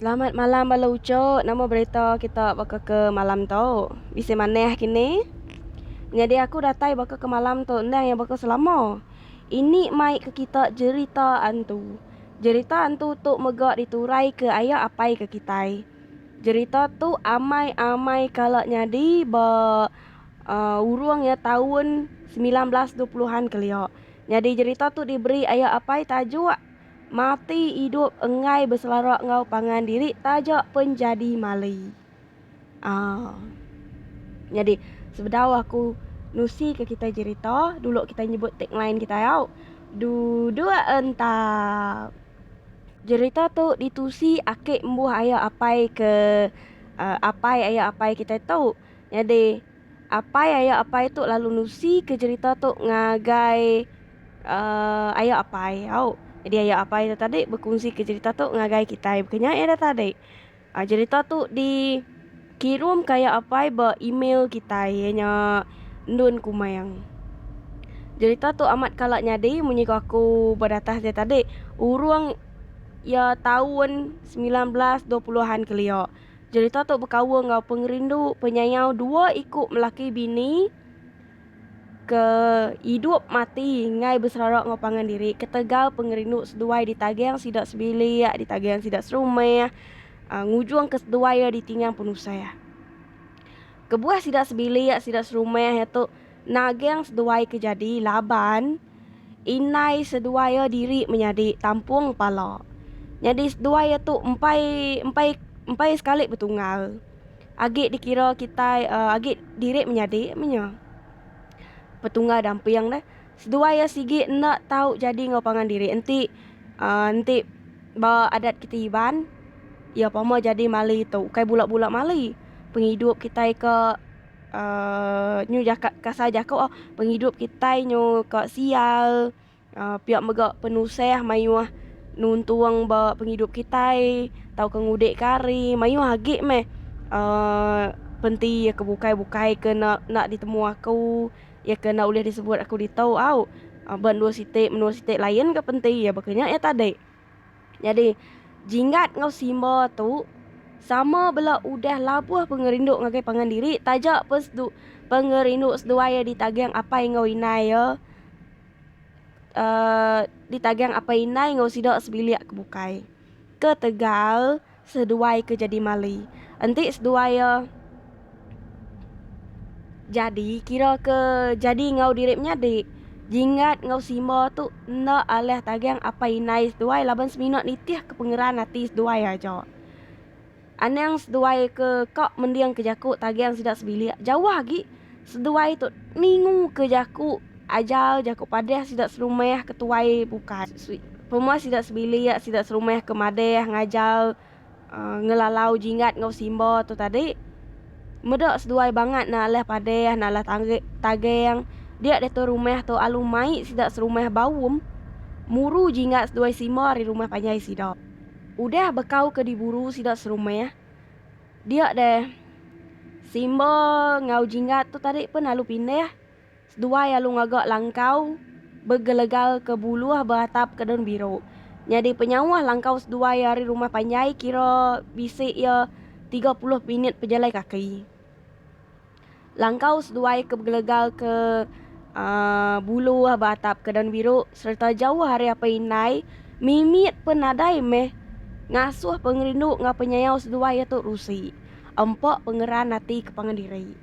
Selamat malam bala ucuk, nama berita kita baka ke malam tu? Bisi manah kini? Nyadi aku datai baka ke malam tu endang iya baka selama. Ini mai ke kita jerita antu. Jerita antu tu mega diturai ke aya apai ke kitai. Jerita tu amai-amai kala nyadi ba urung iya taun semilan belas dua puluh an kelia. Nyadi jerita tu diberi aya apai tajuk Mati Idup Enggai Beselara Enggau Pangan Diri Taja Penjadi Mali. Nyadi sebedau aku nusi ke kitai jerita dulu kitai nyebut tagline kitai au, Duduk Entap. Jerita tu ditusi aki embuh aya apai ke apai aya apai kitai tu. Nyadi apai aya apai tu lalu nusi ke jerita tu ngagai aya apai au. Jadi aya apai tu tadi bekunsi ke jerita tu ngagai kitai bukan nya ida tadi. A jerita tu di kirum ka iya apai ba email kitai iya nya Ndun Kumang. Jerita tu amat kala nyadi munyi ko aku ba datas dia tadi urung iya taun semilan belas dua puluh an kelia. Jerita tu bekaul enggau pengerindu penyayau dua iku melaki bini Ke idup mati enggai beserara enggau pangan diri ketegal pengerindu seduai ditaging sida sebilik, ditaging sida serumah, ngujung ke seduai iya ditingang penusah. Kebuah sida sebilik, sida serumah iya tu naging seduai ke jadi laban. Indai seduai iya diri menyadi tampung pala. Nyadi seduai iya tu empai empai empai sekali betunggal. Agi dikira kitai agi diri menyadi meh nya. Petunggal damping deh. Seduai iya sigi enda tau jadi enggau pangan diri enti enti ba adat kitai Iban iya pama jadi mali tu ukai bula bula mali pengidup kitai ke. Uh, nyu jaka kasar jako oh, pengidup kitai nyu ka sial uh, pia mega penusah mayuh nuntung ba pengidup kitai tau ke ngudik kari mayuh agi meh uh, penti ya ke bukai bukai ke nak nak ditemu aku ya ke nak ulih disebut aku ditu au uh, ba dua siti menua siti lain ke penti ya baka nya ya tadi Nyadi, Jinggat enggau Simba tu sama bela udah labuh pengerindu ngagai pangan diri taja pun sedu pengerindu seduai iya ditagang apai enggau indai iya um ditagang apai indai enggau sida sebilik ke bukai. Ketegal. Seduai ke jadi mali. Enti seduai iya jadi kira ke jadi enggau diri menyadi. Jinggat enggau Simba tu enda alih tagang apai indai seduai laban semina nitihka pengeran ati seduai aja. Anang seduai ke ka mendingka jaku tagang sida sebilik jauh agi. Seduai tu ningu ke jaku ajal jaku padah sida serumah ke tuai bukai. Pemua sida sebilik sida serumah ke madah ngajal ngelalau jinggat enggau simba tu tadi meda seduai bangat ne alah padah ne alah tagang dia diatu rumah tu alu mai sida serumah baum muru jinggat seduai simba ari rumah panjai sida. Udah bekau ke diburu sida serumah. Dia deh. Simba enggau Jingat tu tadi pun alu pindih. Seduai alu ngaga langkau begelegal ke buluh beatap ke daun biru. Nyadi penyauh langkau seduai ari rumah panjai kira bisi iya tiga puluh minit pejalai kaki. Langkau seduai ke begelegal ke bulu ba atap ke daun biru sereta jauh ari apai indai mimit pun nadai meh ngasuh pengerindu enggau penyayau seduai iya tu rusi empa pengeran ati ke pangan diri.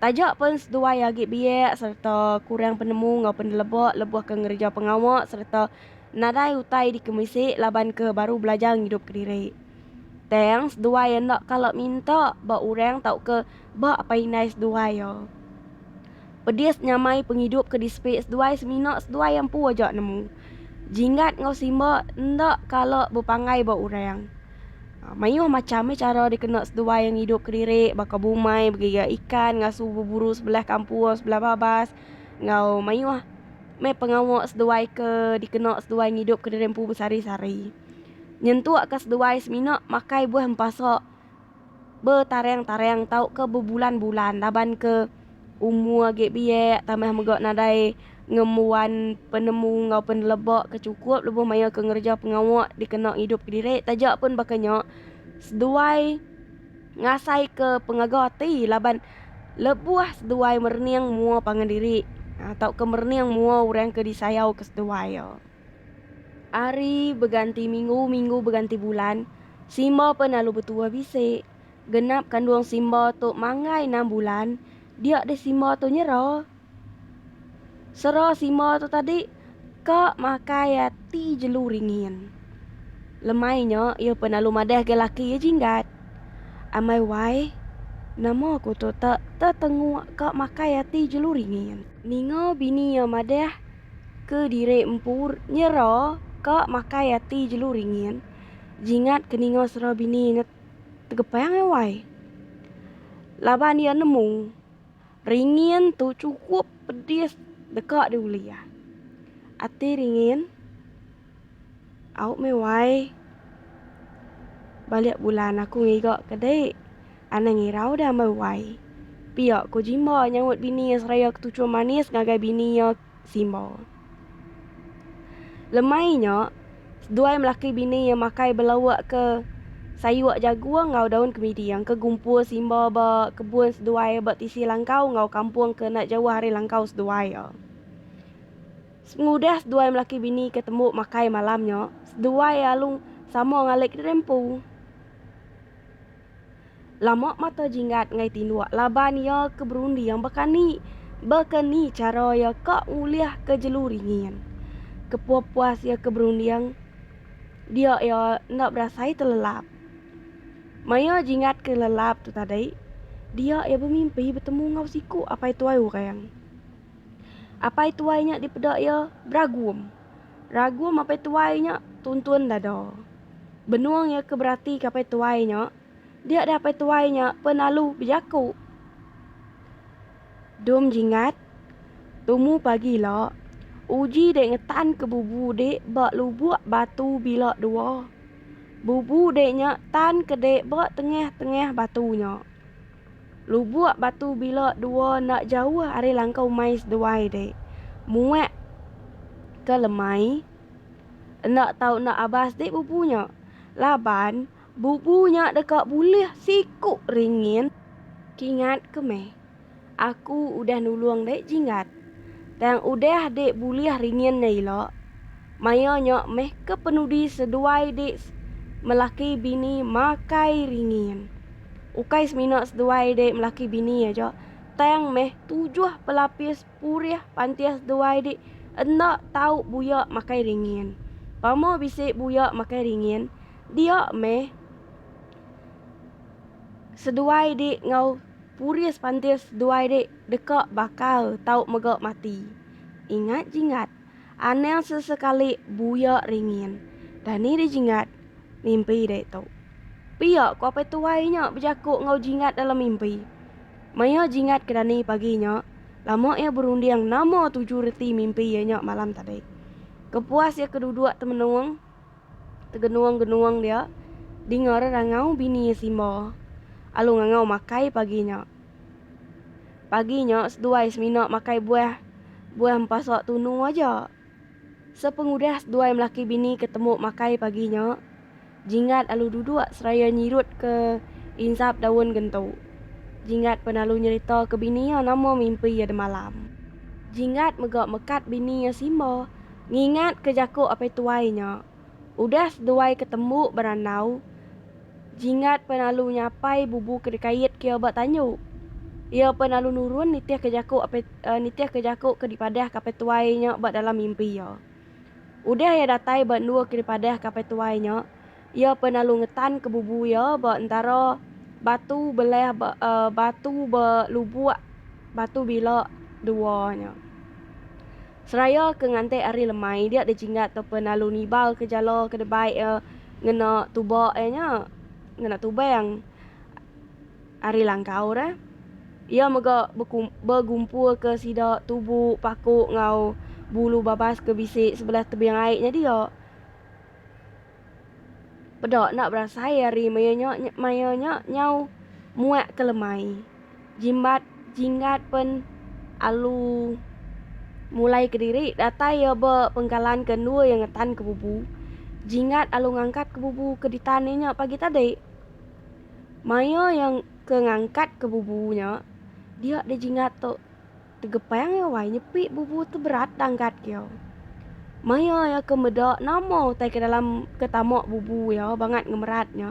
Taja pun seduai agi biak sereta kurang penemu enggau peneleba lebuh ke ngereja pengawa sereta nadai utai dikemisi laban ke baru belajar ngidup kediri. Tang seduai enda kala minta ba orang tauka ba apai indai seduai iya. Pedis nyamai pengidup ke disepi seduai semina seduai empu aja nemu. Jinggat enggau simba enda kala bepanggai ba orang. Mayuh macham meh chara dikena seduai ngidup kediri baka bumai begiga ikan ngasu beburu sebelah kampung sebelah babas enggau mayuh meh pengawa seduai ke dikena seduai ngidup kediri empu besari-sari. Nyentuk ke seduai semina makai buah empasa betareng-tareng tauka bebulan-bulan laban ke umur agi biak tambah mega nadai ngembuan penemu enggau peneleba ke chukup lebuh maya ke ngereja pengawa dikena ngidup kediri. Taja pun baka nya, seduai ngasaika pengaga ati laban lebuh seduai merening mua pangan diri tauka merening mua orang ke disayauka seduai iya. Ari beganti minggu, minggu beganti bulan, simba pen alu betuah bisi. Genap kandung simba tu manggai enam bulan, dia deh simba tu nyera. Sera simba tu tadi ka makai ati jelu ringin. Lemai nya iya pen alu madah ga laki iya jinggat. Amai wai, nama ku tu te tetenguk ka makai ati jelu ringin. Ninga bini iya madah. ke diri empu nyera ka makai ati jelu ringin jingat ke ninga sera bini nge tegepang ai wai. Laban iya nemu ringin tu cukup pedis deka diulih iya. Ati ringin. Au meh wai. Balik bulan aku ngiga ke dek. Anang ngirau dah meh wai. Pia ko jimba nyawut bini iya seraya ketuchur manis ngagai bini iya simba. Lemai nya, seduai melaki bini iya makai belauk ke sayur jagung enggau daun kemidi yang ke gumpul simba ba kebun seduai iya ba tisi langkau enggau kampung ke enda jauh ari langkau seduai iya. Sengudah seduai melaki bini ke tembu makai malam nya, seduai alu sama ngalik diri empu. Lama mata Jinggat enggai tinduk laban iya ke berunding baka ni baka ni chara iya ka ngulihka jelu ringin. Kepuas-puas iya ke berunding, dia iya enda berasai telelap. Maya Jinggat ke lelap tu tadi, dia iya bemimpi betemu enggau siku apai tuai orang. Apai tuai nya dipeda iya beragum. Ragum apai tuai nya tuntun dada. Benung iya ke beratika apai tuai nya, dia deh apai tuai nya penalu bejaku. Dum jingat, tumu pagi ila, uji dek ngetanka bubu dek ba lubuk batu bila dua. Bubu dek nya tanka dek ba tengah-tengah batu nya. Lubuk batu bila dua enda jauh ari langkau umai seduai dek. Muak ke lemai enda tau enda abas dek bubu nya. Laban bubu nya deka bulih siku ringin. Kingat ke meh. Aku udah nulung dek jinggat. Tang udah dek bulih ringin nya ila. maya nya meh ke penudi seduai dek melaki bini makai ringin. Ukai semina seduai dek melaki bini aja, tang meh tujuh pelapis purih pantih seduai dek enda tau buya makai ringin. Pama bisi buya makai ringin, dia meh seduai dek enggau purih pantih seduai dek deka bakal tau mega mati. Ingat jinggat. Anang sesekali buya ringin. Dani dijingat mimpi dek tu. Pia ko apai tuai nya bejaku enggau jingat dalam mimpi. Maya jingat ke Dani pagi nya, lama iya berunding nama tuju reti mimpi iya nya malam tadi. Kepuas iya ke duduk temenung. Tegenuang-genuang dia dingar rangau bini iya Simba alu ngangau makai pagi nya. Pagi nya seduai semina makai buah buah empasa tunu aja. Sepengudah seduai melaki bini ke temu makai pagi nya, Jinggat alu duduk seraya nyirut ke insap daun gentu. Jinggat pen alu nyerita ke bini iya nama mimpi iya demalam. Jinggat mega mekat bini iya Simba Ngingat ke jaku apai tuai nya, udah seduai ke tembu berandau, Jinggat pen alu nyapai bubu ke dikait ke iya ba tanju. Iya pen alu nurun nitih ke jaku apai nitih ke jaku ke dipadah ke apai tuai nya ba dalam mimpi iya. Udah iya datai ba endua ke dipadah ke apai tuai nya, Iya pen alu ngetan ke bubu iya ba entara batu beleh ba batu ba lubuk batu bila dua nya. Seraya ke ngantik ari lemai dia dejinggat tau pen alu nibal ke jala ke debai iya ngena tuba iya nya ngena tubang ari langkau re. Iya mega beku begumpul ke sida tubu paku enggau bulu babas ke bisi sebelah tebing ai nya dia. Peda enda berasai ari maya nya maya nya nyau muak ke lemai. Jimbat jinggat pen alu mulai kediri datai iya ba pengkalan ke endur iya ngetan ke bubu. Jinggat alu ngangkat ke bubu ke ditan iya nya pagi tadi. Maya iya ke ngangkat ke bubu nya dia di jinggat tu. Tegepang iya wai nyepi bubu tu berat danggat iya. Maya iya ke meda nama utai ke dalam ke tama bubu iya bangat ngemerat nya.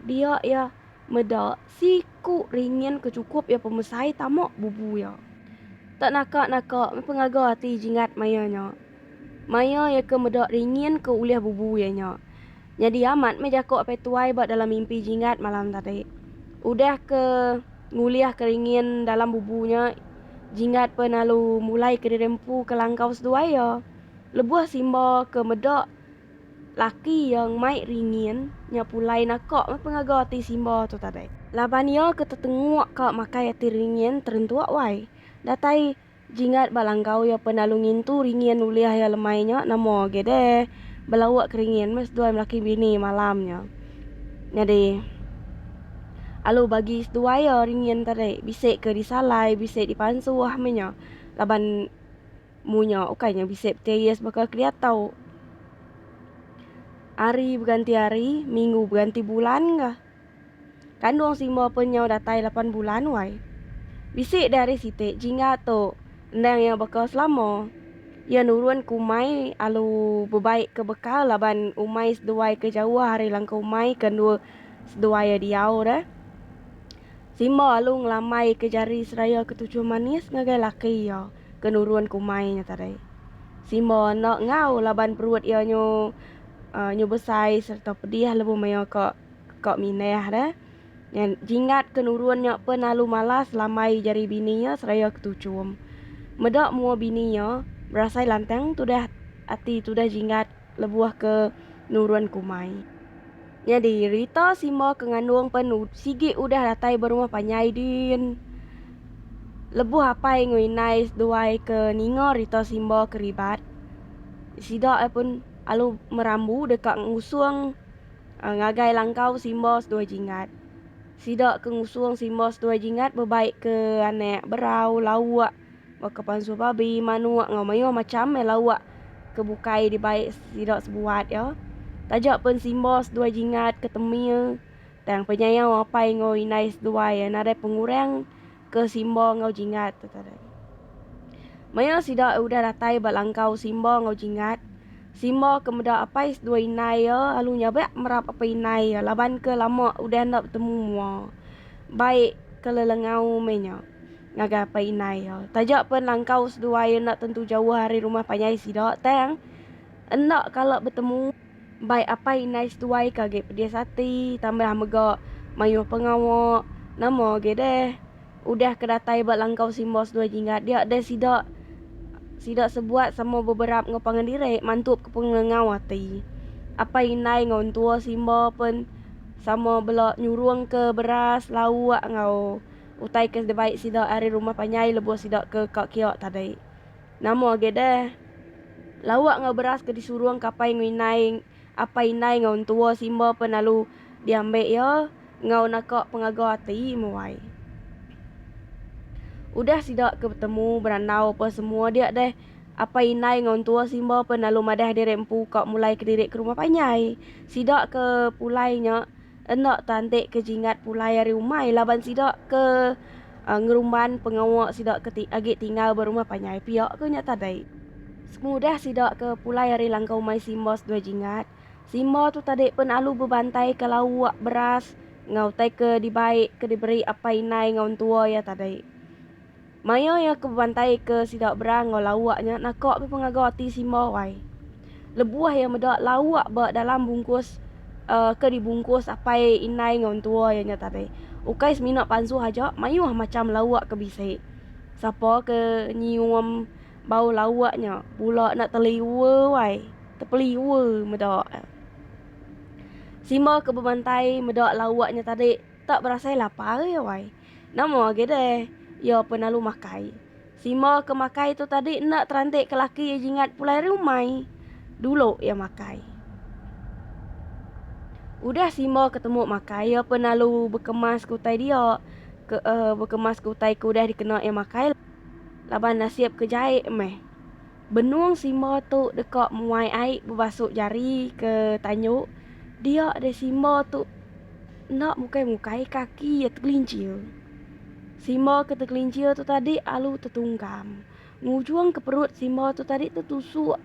Dia iya meda siku ringin ke chukup iya pemesai tama bubu iya. Tak naka-naka meh pengaga ati Jinggat maya nya. Maya iya ke meda ringin ke ulih bubu iya nya. Nyadi amat meh jaku apai tuai ba dalam mimpi Jinggat malam tadi. Udah ke ngulih ke ringin dalam bubu nya, Jinggat peh lalu mulai kediri empu ke langkau seduai iya. Lebuh Simba ke meda laki iya mai ringin nya pulai naka meh pengaga ati Simba tu tadi. Laban iya ke tetenguk ka makai ati ringin terentuk wai. Datai. Jingat ba langkau iya pen lalu ngintu ringin ulih iya lemai nya nama agi deh belauk ke ringin meh seduai melaki bini malam nya. Nyadi alu bagi seduai iya ringin tadi bisi ke disalai bisi dipansuh meh nya laban mu nya ukai nya bisi beteyis baka ke diatau. Hari beganti hari minggu beganti bulan kah. Kandung Simo pun nyau datai lapan bulan wai. Bisi deh ari siti jingga tu endang iya baka selama. Iya nurun ke umai alu bebai ke bekal laban umai seduai ke jauh ari langkau umai ke endur seduai iya diau deh. Simo alu ngelambai ke jari seraya ke tujuh manis ngagai laki iya ke nurun ke umai nya tadi. Simo enda enggau laban perut iya nyu. Nyu besai sereta pedih lebuh maioh ka ka mindah da. Nyan jingat ke nurun nya pun lalu malas lambai jari bini iya seraya ke tuchum. Meda mua bini iya berasai lantang tudah ati tudah jingat lebuh ke nurun ke umai. Nyadi, Rita simba ke ngandung pen sigi udah datai ba rumah panjai din. Lebuh apai enggau indai seduai ke ninga Rita simba ke ribat, sida iya pun alu merambu deka ngusung ngagai langkau simba seduai jinggat. Sida ke ngusung simba seduai jinggat bebai ke anak berau, lauk. Baka pansur babi, manuk enggau mayuh macham meh lauk ke bukai dibai sida sebuat iya. Taja pen simba seduai jingat ke temie, tang penyayau apai enggau indai seduai iya nadai pengurang ke simba enggau jingat tu tadi. Maya sida udah datai ba langkau simba enggau jingat, simba ke meda apai seduai indai iya lalu nyabak merap apai indai iya laban ke lama udah enda betemu mua. Bai ke lelengau meh nya. ngagai apai indai iya. Taja pun langkau seduai iya enda tentu jauh ari rumah panjai sida tang enda kala betemu bai apai indai seduai ke agi pedis ati tambah mega mayuh pengawa nama agi deh udah ke datai ba langkau simba seduai jinggat dia deh sida sida sebuat sama beberap enggau pangan diri mantu ke pengengau ati. Apai indai enggau entua simba pun sama bela nyurung ke beras lauk enggau Utai ke dibai sida ari rumah panyai lebuh sida ke ka kiok tadi. Nama agi deh. Lauk enggau beras ke disurung kapai enggau indai apai indai enggau entua simba pen lalu diambi iya enggau naka pengaga ati muai. Udah sida ke betemu berandau apa semua dia deh apai indai enggau entua simba pen lalu madah diri empu ka mulai kediri ke rumah panyai. Sida ke pulai nya. Enda tanti ke jingat pulai ari umai laban sida ke ngerumban pengawa sida ke agi tinggal ba rumah panjai pia ke nya tadi. Pengudah sida ke pulai ari langkau umai Simba seduai jingat, Simba tu tadi pen alu bebantai ka lauk, beras enggau utai ke dibai ke diberi apai indai enggau entua iya tadi. Maya iya ke bebantaika sida Bra enggau Lawak nya naka mih pengaga ati Simba wai. Lebuh iya meda Lawak ba dalam bungkus uhh ke dibungkus apai indai enggau entua iya nya tadi, ukai semina pansuh aja mayuh macham Lawak ke bisi. Sapa ke nyium bau Lawak nya bula enda teliur wai, tepeliur meda iya. Simba ke bebantai meda Lawak nya tadi tak berasai lapar iya wai. Nama agi deh iya penalu makai. Simba ke makai tu tadi enda terantik ke laki iya jingat pulai ari umai. Dulu iya makai. Udah Simba ketemu makai iya penalu bekemas ke utai dia. Ke, uh, bekemas ke utai ke udah dikena iya makai. Laban nasib ke jai meh. Benung simba tu deka muai ai bebasuk jari ke tanyu dia deh simba tu enda mukai mukai kaki iya tegelincir. Simba ke tegelincir tu tadi alu tetungkam. Ngujung ke perut simba tu tadi tetusuk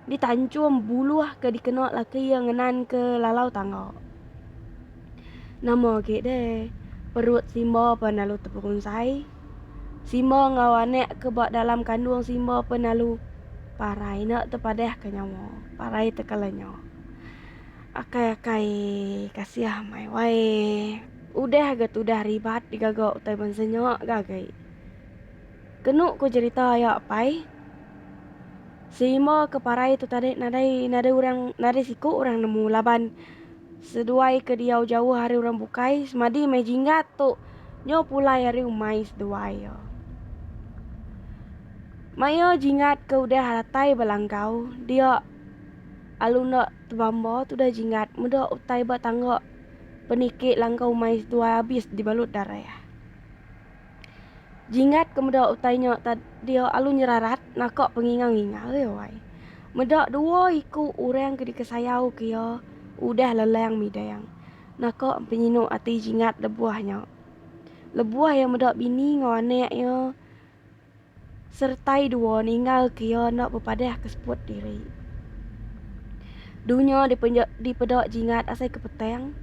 di tanchum buluh ke dikena laki iya ngenan ke lalau tangga. Nama agi deh perut simba pan alu teperunsai. Simba enggau anak ke ba dalam kandung Simba pun lalu parai enda tepadahka nyawa, parai tekelanya. Akai-akai kasih mai wai. Udah ga tudah ribat digaga utai bansa nya ga agi. Kenu ku jerita aya apai, Simba ke parai tu tadi nadai nadai orang nadai siku orang nemu laban. Seduai ke diau jauh ari orang bukai semadi meh jinggat tu nyo pulai ari umai seduai yo. Maio jinggat ke udah ratai ba langkau dio alu enda tebamba tudah jinggat medo utai ba tangga peniki langkau umai seduai abis dibalut dareh. Jingat ke meda utai nya ta dia alu nyerarat naka penginga-nginga ai wai. Meda dua iku orang ke dikesayau ke iya udah lelang midang naka penyinu ati Jingat lebuh nya. Lebuh iya meda bini enggau anak iya. Sertai dua ninggal ke iya enda bepadah ke seput diri. Dunya dipeda jingat asai ke petang,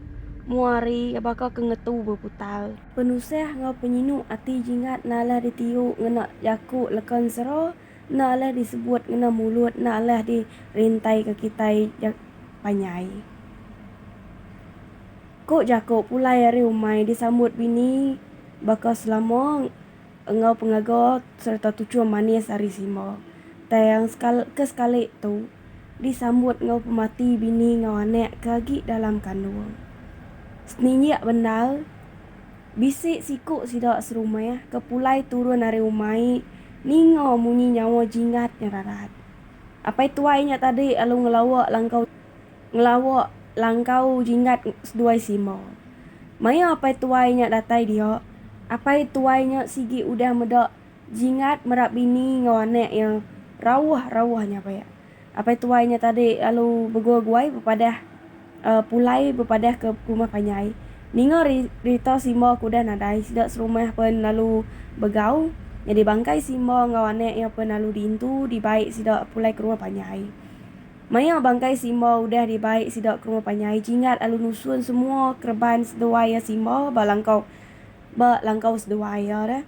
mua hari baka ke ngetu beputar. Penusah enggau penyinu ati jingat enda alah ditiu ngena jaku leka ensera, enda alah disebut ngena mulut, enda alah dirintaika kitai panjai. Ku jaku pulai ari umai disambut bini baka selama. enggau pengaga sereta tuchum manis ari Simba tang ke sekali tu disambut enggau pemati bini enggau anak ke agi dalam kandung. Seninjak bendar, bisi siku sida serumah ke pulai turun ari umai ninga munyi nyawa Jingat nyerarat. Apai tuai nya tadi lalu ngelawa langkau. Ngelawa langkau jinggat seduai sima. Maya apai tuai nya datai dia, apai tuai nya sigi udah meda jinggat merap bini enggau anak iya rauh-rauh nya pia. Apai tuai nya tadi lalu begua-guai bepadah pulai bepadah ke rumah panjai. Ninga rita Simba ke udah nadai sida serumah pen lalu begau, nyadi bangkai Simba enggau anak iya pen lalu diintu dibai sida pulai ke rumah panjai. Maya bangkai Simba udah dibai sida ke rumah panjai, Jingat lalu nusun semua kereban seduai iya Simba ba langkau ba langkau seduai iya deh.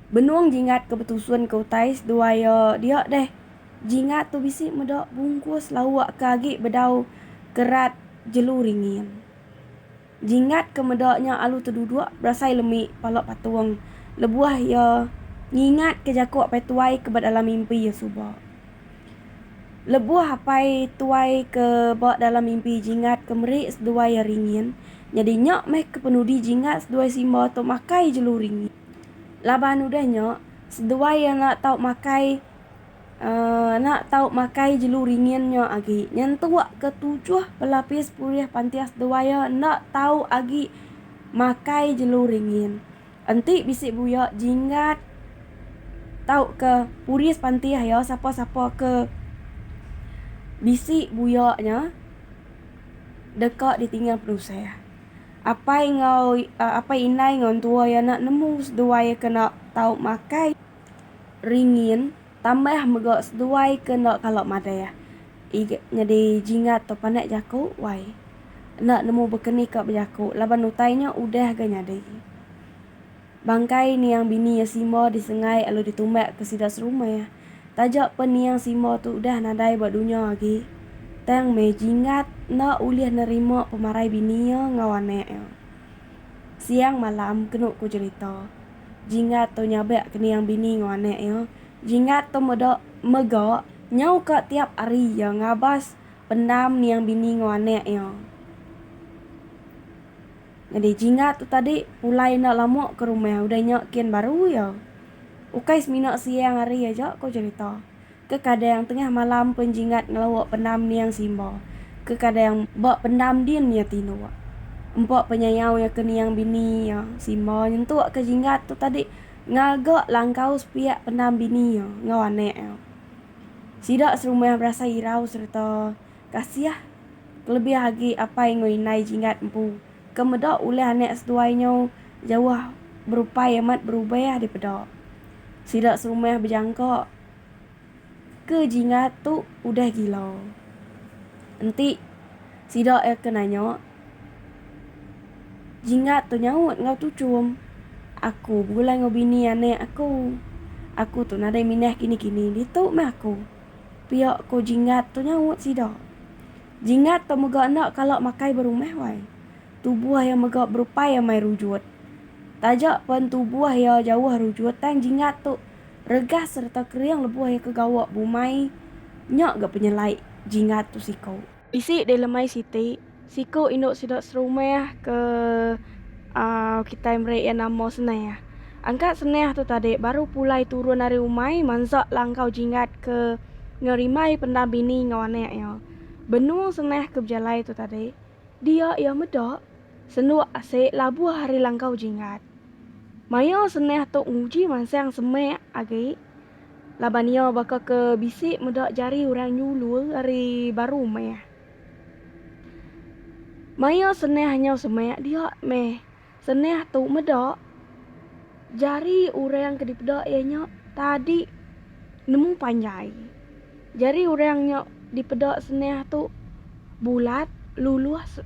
Benung Jingat ke betusun ke utai seduai iya dia deh, Jingat tu bisi meda bungkus lauk ke agi bedau kerat jelu ringin. Jingat ke meda nya alu teduduk berasai lemi pala patung lebuh iya ngingatka jaku apai tuai ke ba dalam mimpi iya suba. Lebuh apai tuai ke ba dalam mimpi Jingat ke meri seduai iya ringin, nyadi nya meh ke penudi Jingat seduai Simba tu makai jelu ringin. Laban udah nya, seduai iya enda tau makai Uh, ena tau makai jelu ringin nya agi. Nyentuk ke tujuh pelapis pulih pantias dewaya enda tau agi makai jelu ringin. Enti bisi buya jinggat tau ke puris pantias iya sapa-sapa ke bisi buya nya deka ditinggal penusah. Apai enggau uh, apai indai enggau entua iya enda nemu seduai kena tau makai. ringin tambah mega seduai ke enda kala madah iga nyadi jingat tu panak jaku wai enda nemu bekeni ka bejaku laban utai nya udah ga nyadi. Bangkai niang bini iya simo disengai lalu ditumbak ke sida serumah taja pen niang simo tu udah nadai ba dunya agi tang meh jingat enda ulih nerima pemarai bini iya enggau anak iya. Siang malam kenu ku jerita Jinggat tu nyabak kening bini enggau anak iya. Jinggat tu meda mega nyau ka tiap hari iya ngabas pendam niang bini enggau anak iya. Nyadi Jinggat tu tadi pulai enda lama ke rumah udah nya kin baru iya. Ukai semina siang hari aja ko cherita. Ke kadang tengah malam pen Jinggat ngelawok pendam niang Simba. Ke kadang ba pendam din iya tindok. Empa penyayau iya ke niang bini iya, Simba nyentuk ke Jinggat tu tadi ngaga langkau sepiak pendam bini iya enggau anak iya. Sida serumah berasai irau sereta kasih kelebih agi apai enggau indai Jinggat empu ke meda ulih anak seduai nyau jauh berupai amat berubah dipeda. Sida serumah bejangka. Ke jingat tu udah gila. Enti sida iya ke nanya, jingat tu nyaut enggau tuchum, Aku begulai enggau bini anak aku. Aku tu nadai minah kini-kini ditu meh aku. Pia ko jingat tu nyaut sida. Jingat tu mega enda kala makai ba rumah wai. Tubuh iya mega berupai amai rujut. Taja pen tubuh iya jauh rujut tang jingat tu Regas sereta kering lebuh iya ke gawa bumai nya ga penyelai jinggat tu siku. Bisi deh lemai siti, siku indu sida serumah ke au kitai meri iya nama Senah. Angkat Senah tu tadi baru pulai turun ari umai mansa langkau jinggat ke ngerimbai pendam bini enggau anak iya. Benung Senah ke bejalai tu tadi. Dia iya meda, senuk asik labuh ari langkau jingat. Maya seneh tu nguji mansang semak agi laban iya baka ke bisi meda jari orang nyulur ari baru rumah. Maya seneh nyau semak dia meh Senah tu meda jari orang ke dipeda iya nya tadi nemu panjai. Jari orang nya dipeda senah tu bulat, lulus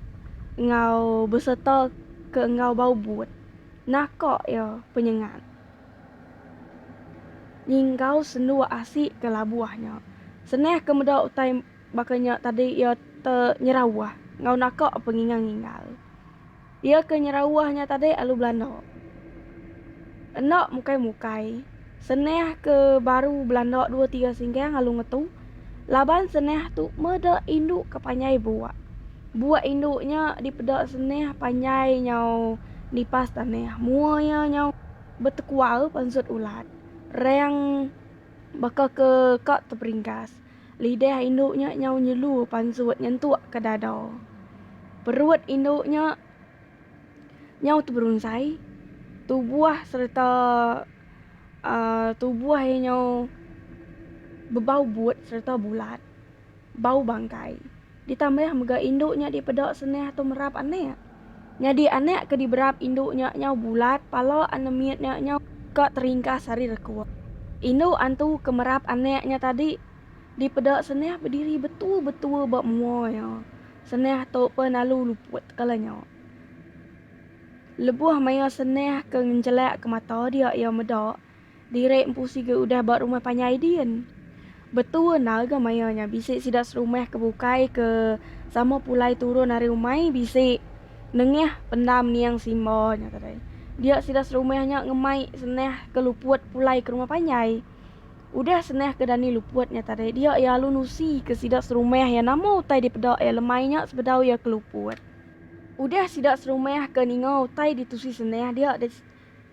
enggau besereta ke enggau bau but. Naka iya penyengat nyinggau sendu asi ke labuh nya. Senah ke meda utai baka nya tadi iya te nyerawah enggau naka pengingal-ngingal. Iya ke nyeraoh nya tadi alu Belanda. Enda mukai-mukai, seneh ke baru Belanda dua tiga singgang alu ngetu, laban seneh tu meda indu ke panjai buak. Buak indu nya dipeda seneh panjai nyau nipas taneh. Mua iya nyau betekual pansut ulat, reng baka ke ka teperinggas. Lidah indu nya nyau nyelu pansut nyentuk ke dada. Perut indu nya nyau teberunsai. Tubuh sereta tubuh iya nyau bebau but sereta bulat. Bau bangkai. ditambah mega indu nya dipeda senah tu merap anak. Nyadi anak ke diberap indu nya nyau bulat, pala ana mit nya nyau ka teringkas ari rekuk. Indu antu ke merap anak nya tadi dipeda senah bediri betua-betua ba mua iya. Senah tu pun lalu luput kala nya. Lebuh maya senah ke ngenjelakka mata dia iya meda. Diri empu siga udah ba rumah panjai din. Betua endar ga maya nya bisi sida serumah ke bukai ke sama pulai turun ari umai bisi nengah pendam niang simba nya tadi. Dia sida serumah nya ngemai senah ke luput pulai ke rumah panjai. Udah senah ke dani luput nya tadi dia iya alu nusi ke sida serumah iya nama utai dipeda iya lemai nya sebedau iya ke luput. Udah sida serumah ke ninga utai ditusi senah dia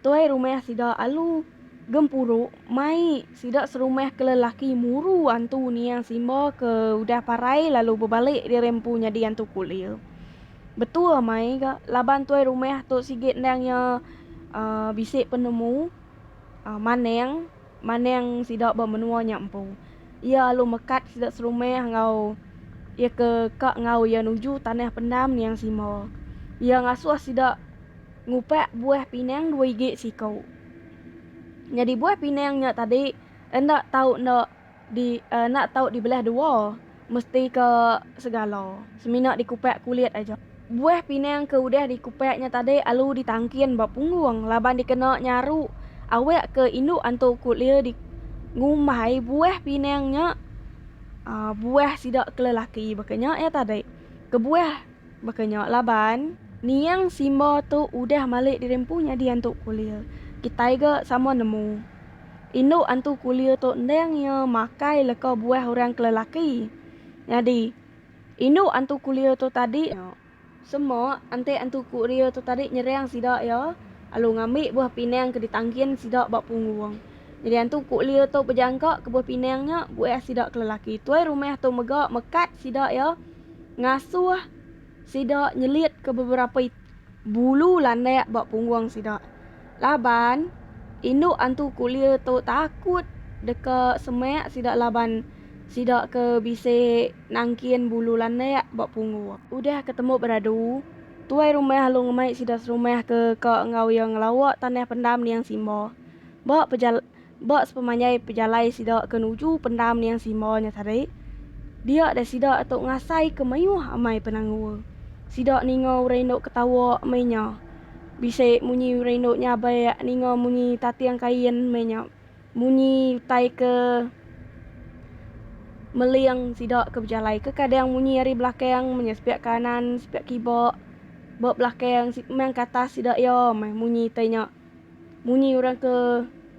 Tuai rumah sida alu gempuru mai sida serumah ke lelaki muru antu niang simba ke udah parai lalu bebalik diri empu nyadi antu kulir. Betul amai ga laban tuai rumah tu sigi endang iya bisi penemu manang. maneng sida ba menua nya empu. Iya alu mekat sida serumah enggau iya ke ka enggau iya nuju tanah pendam Niang Sima. Iya ngasuh sida ngupak buah pinang dua igi siku. Nyadi buah pinang nya tadi enda tau enda di enda tau dibelah dua. Mesti ke segala. Semina dikupak kulit aja. Buah pinang ke udah dikupak nya tadi alu ditangkin ba punggung laban dikena nyaru awak ke indu antu kulia di ngumbai buah pinang nya buah sida ke lelaki baka nya iya tadi. Kebuah. Baka nya laban, niang simba tu udah malik diri empu nyadi antu kulir. Kitai ga sama nemu. Indu antu kulir tu endang iya makai leka buah orang ke lelaki. Nyadi, indu antu kulir tu tadi nya. Semua antek antu kulir tu tadi nyerang sida iya lalu ngambi buah pinang ke ditangkin sida ba punggung. Nyadi antu kulir tu bejangka ke buah pinang nya buah sida ke lelaki. Tuai rumah tu mega mekat sida iya ngasuh sida nyelitka beberapa bulu landak ba punggung sida. Laban, indu antu kulir tu takut deka semak sida laban sida ke bisi nangkin bulu landak ba punggung. Udah ke tembu beradu, tuai rumah lalu ngemai sida serumah ke ka enggau iya ngelawa tanah pendam Niang Simba. Ba pejal. Ba sepemanjai pejalai sida ke nuju Pendam Niang Simba nya tadi, dia deh sida tu ngasaika mayuh amai penanggul. Sida ninga orang indu ketawa meh nya. Bisi munyi orang indu nyabak ninga munyi tating kain meh nya. Munyi utai ke meling sida ke bejalai. Kekadang munyi ari belakang meh nya sepiak kanan sepiak kiba. Ba belakang, meh engka atas sida iya meh munyi utai nya. munyi orang ke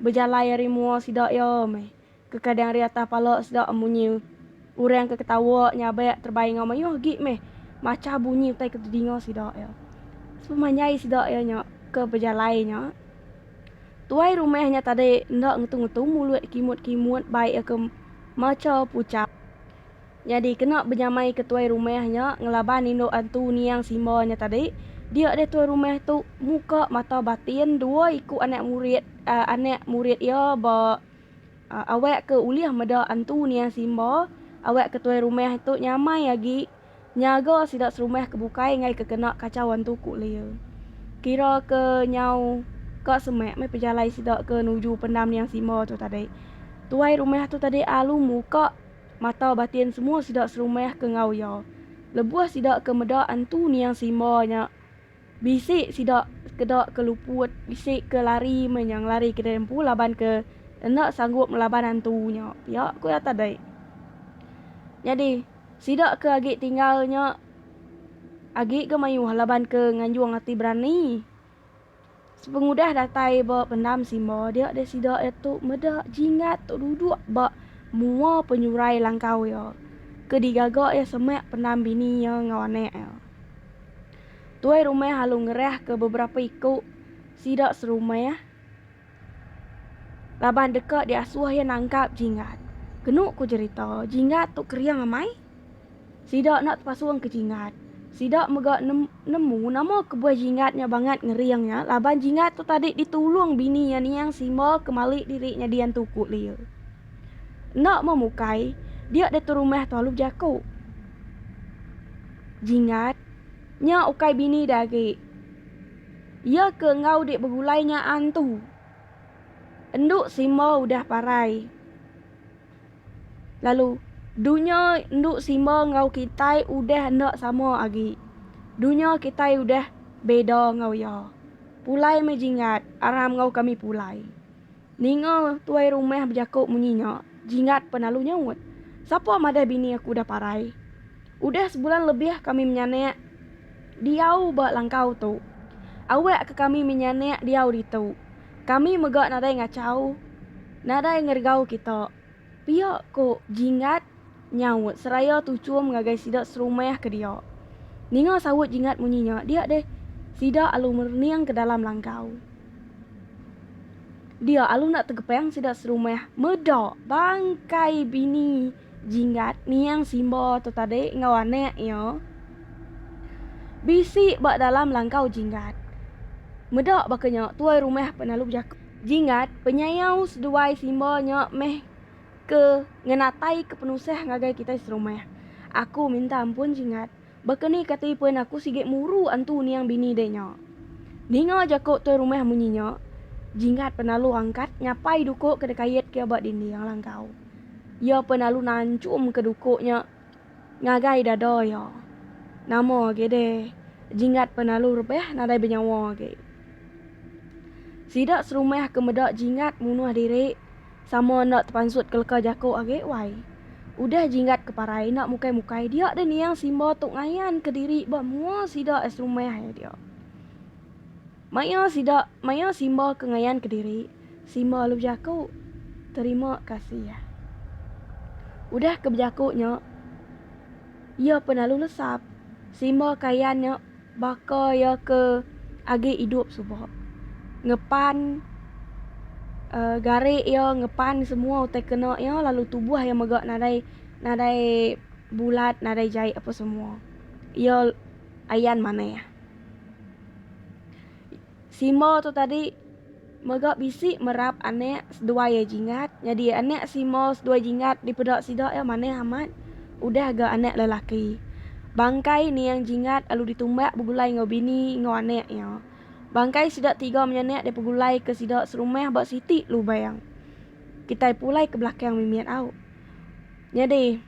bejalai ari mua sida iya meh ke kadang ari atas pala sida munyi orang ke ketawa nyabak terebai enggau mayuh agi meh macha bunyi utai ke tedinga sida iya. Sepanjai sida iya nya ke bejalai nya tuai rumah nya tadi enda ngetu ngetu mulut kimut kimut bai iya ke macha puchak. Nyadi kena benyamai ke tuai rumah nya ngelaban indu antu niang simba nya tadi, dia deh tuai rumah tu muka mata batin dua iku anak murid anak murid iya ba awak ke ulih meda antu niang simba awak ke tuai rumah tu nyamai agi nyaga sida serumah ke bukai enggai ke kena kachau antu ku Lia. Kira ke nyau ka semak meh pejalai sida ke nuju pendam niang simba tu tadi. Tuai rumah tu tadi alu muka. mata batin semua sida serumah ke enggau iya. Lebuh sida ke meda antu niang Simba nya, bisi sida sekeda ke luput, bisi ke lari meh nya ngelari kedai empu laban ke enda sanggup ngelaban antu nya pia, ku iya tadi. Nyadi, sida ke agi tinggal nya agi ga mayuh laban ke nganjung ati berani. Sepengudah datai ba Pendam Simba dia deh sida iya tu meda Jingat tu duduk ba mua penyurai langkau iya ke digaga iya semak pendam bini iya enggau anak iya. Tuai rumah lalu ngerahka beberapa iku sida serumah. Laban deka diasuh iya nangkap Jingat. Kenu ku jerita, Jingat tu kering amai. Sida enda tepasung ke Jingat. Sida mega nemu nama kebuah Jingat nya bangat ngering nya laban Jingat tu tadi ditulung bini iya niang Simba ke mali diri nyadi antu Kut Lia. Enda meh mukai, dia ditu rumah Tualu Jaku. Jingat nya ukai bini dia agi. Iya ke enggau dik begulai nya antu. Endu simba udah parai. Lalu dunya endu simba enggau kitai udah enda sama agi. Dunya kitai udah beda enggau iya. Pulai meh jinggat aram enggau kami pulai. Ninga tuai rumah bejaku munyi nya, Jingat pan lalu nyaut, Sapa madah bini aku udah parai? Udah sebulan lebih kami menyanak diau ba langkau tu. Awak ke kami menyanak diau ditu. Kami mega nadai ngachau, nadai ngergau kita, pia ku Jingat. Nyaut seraya tuchum ngagai sida serumah ke dia. Ninga saut Jingat munyi nya dia deh, sida alu merening ke dalam langkau. Dia alu enda tegepang sida serumah meda bangkai bini Jingat niang Simba tu tadi enggau anak iya bisi ba dalam langkau Jingat. Meda baka nya tuai rumah pun alu bejaka. Jingat, Penyayau seduai Simba nya meh. ke ngenatai ke penusah ngagai kitai serumah. Aku minta ampun Jingat, baka ni kati pen aku sigi muru antu niang bini deh nya. Ninga jako toi rumah munyi nya, Jingat pen lalu angkat nyapai duko ke dekait ke ba dinding langkau. Iya pen lalu nanchum ke duko nya. Ngagai dada iya. Nama agi deh Jinggat penalu rebah nadai benyawa agi. Sida serumah ke meda Jinggat munuh diri sama enda tepansut ke leka jaku agi wai. Udah Jinggat ke parai enda mukai-mukai dia deh niang Simba tu ngayanka diri ba mua sida serumah iya dia. Maya sida maya simba ke ngayan kediri, simba lalu bejaku, Terima kasih. Udah ke bejaku nya, iya pun lalu lesap. Simba ke ayan nya baka iya ke agi idup suba. Ngepan uhh gari iya, ngepan semua utai kena iya lalu tubuh iya mega nadai nadai bulat, nadai jai apa semua. Iya ayan manah. Simo tu tadi mega bisi merap anak seduai iya jingat nyadi anak simo seduai jingat dipeda sida iya manah amat udah ga anak lelaki. Bangkai niang jingat lalu ditumbak begulai enggau bini enggau anak iya. Bangkai sida tiga menyanak dipegulai ke sida serumah ba siti lubang kitai pulai ke belakang mimit au. Nyadi.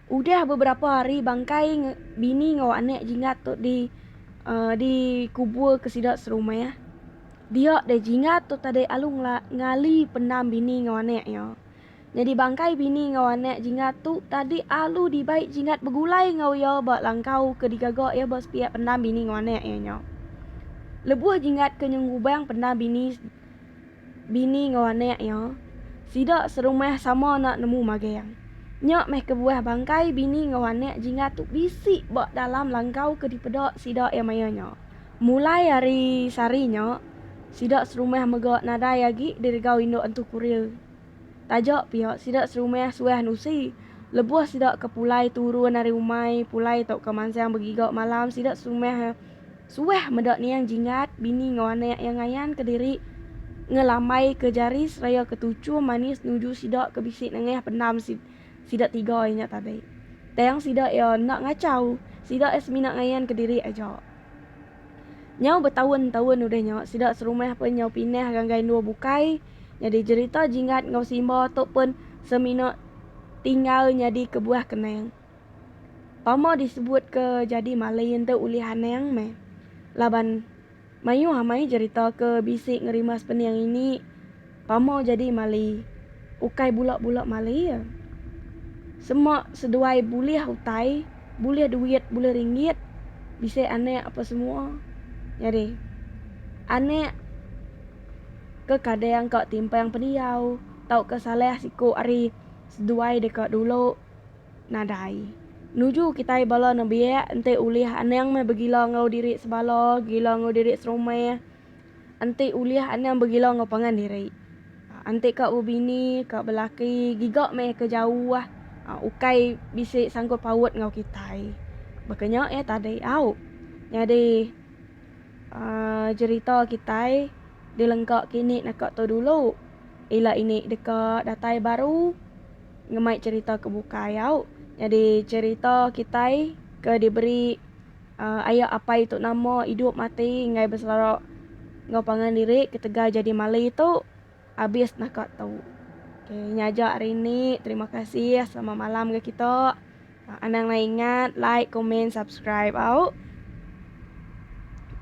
Udah beberapa hari bangkai bini enggau anak Jingat tu di uh, dikubur ke sida serumah. Dia deh Jingat tu tadi alu ngali pendam bini enggau anak iya. Nyadi bangkai bini enggau anak Jingat tu tadi alu dibai Jingat begulai enggau iya ba langkau ke digaga iya ba sepiak pendam bini enggau anak iya nya. Lebuh Jingat ke nyengubang pendam bini Bini enggau anak iya, sida serumah sama enda nemu magang. Nya meh kebuah bangkai bini enggau anak Jingga tu bisi ba dalam langkau ke dipeda sida iya maya nya. Mulai ari sehari nya, sida serumah mega nadai agi diregau indu Entu Kuril. Taja pia, sida serumah suah nusi. Lebuh sida ke pulai turun ari umai, pulai tauka mansang begiga malam, sida serumah. Suah meda niang Jingat, bini enggau anak iya ngayanka diri ngelamaika jari seraya ketuchum manis nuju sida ke bisi nengah pendam sida tiga iya nya tadi. Tang sida iya enda ngachau, sida iya semina ngayanka diri aja. Nyau betaun-taun udah nya, sida serumah pun nyau pindah ngagai endur bukai, nyadi jerita Jingat enggau Simba tu pun semina tinggal nyadi kebuah kenang. Pama disebut ke jadi Malin tu ulih anang meh. Laban mayuh amai jerita ke bisi ngerima sepening ini Pama jadi Mali ukai bula-bula Mali ya. Sema seduai bulih utai, bulih duit, bulih ringgit, bisi anak apa semua. Nyadi anak ke kadang ka timpang pendiau tauka salah siku ari seduai deka dulu Nadai. Nuju kitai bala nembiak enti ulih anang meh begila enggau diri sebala, gila enggau diri serumah. Enti ulih anang begila enggau pangan diri. Enti ka bebini, ka belaki giga meh ke jauh ukai bisi sangkut paut enggau kitai. Baka nya iya tadi au. Nyadi aaa jerita kitai dilengka kini naka tu dulu. Ila ini deka datai baru. ngemai cherita ke bukai au nyadi cherita kitai ke diberi aya apai tu nama idup mati enggai beselara enggau pangan diri ketegal jadi mali tu abis naka tu. Nya aja hari ni terima kasih selamat malam ga kita. Anang nai ingat like comment subscribe au.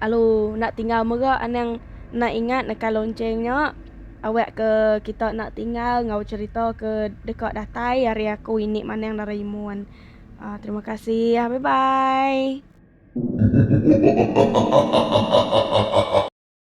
Lalu enda tinggal mega anang nai ingat nekan lonceng nya awek ke kita enda tinggal enggau cerita ke deka datai ari aku ini Manang Doraemon. Aa terima kasih bye bye.